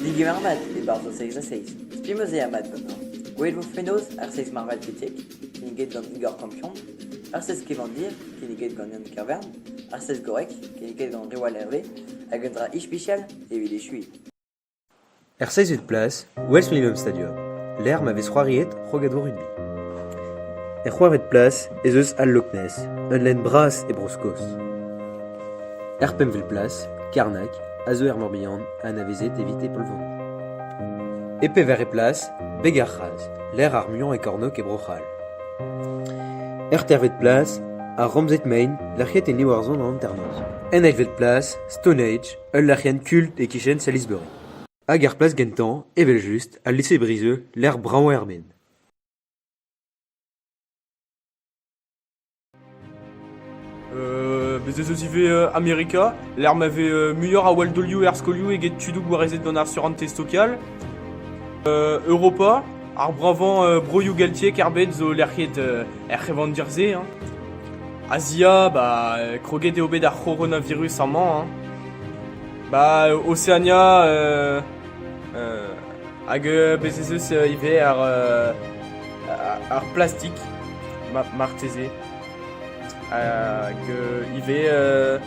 Digemer vat e-barzh o seizh ha seizh. Spi 'm eus eo mat ganin. Gwelet vo fenoz ar seizh marvat betek, kinniget gant Igor Kampion, ar seizh kevandir, kinniget gant Yann Kervern, ar seizh gorrek, kinniget gant Riwal Hervé, hag un dra ispisial evit echuiñ. Er seizvet plas e welfent e bep stadium, lec'h ma vez c'hoariet krogadoù rugby. Er c'hwec'hvet plas ez eus al Loch Ness, ul lenn bras e Bro-Skos. Er pempvet plas, Karnak a zo er Morbihan anavezet evit e polvon. E pevarvet plas, Beg-ar-C'hras, lec'h ar muiañ e kornôg e Bro-C'hall. Er teirvet plas, ar Ramzed Main, lec'hiet en Iwerzhon an hanternoz. En eilvet plas, Stone Age, Ul lec'hienn kult e-kichen Salisbury. Hag er plas gentañ, evel-just, al lise-brizeux lec'h brav er Maine. Euh, bez' ez eus ivez euh, Amerika, lec'h ma vez euh, muioc'h a waldolioù er skolioù eget tudoù gwarezet gant ar surantez local. Euh, Europa, ar brañvañ euh, broioù geltiek er bed zo lec'hiet euh, er c'hevandir-se. Hein. A-ziab ha kroget eo bet ar c'horonavirus amañ hein. Ba Oseania euh euh hag bez ez eus ivez ar euh ar plastik ma marteze hag ivez euh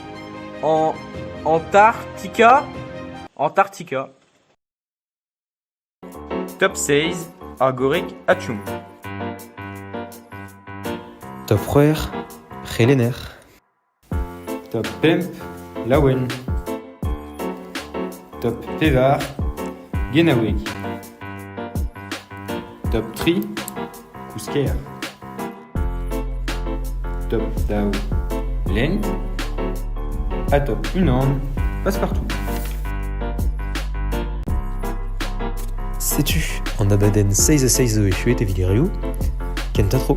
Antarctica Antarctica. Top seiz, ar gorreg Atchoum. Top c'hwec'h, c'helenner. Top pemp, laouen. Top pevar, genaoueg. Top tri, Kousker. Top daou lenn. Ha top unan passe-partout. Setu an abadenn 6 ha 6 zo echuet evit e reoù. Kentañ tro.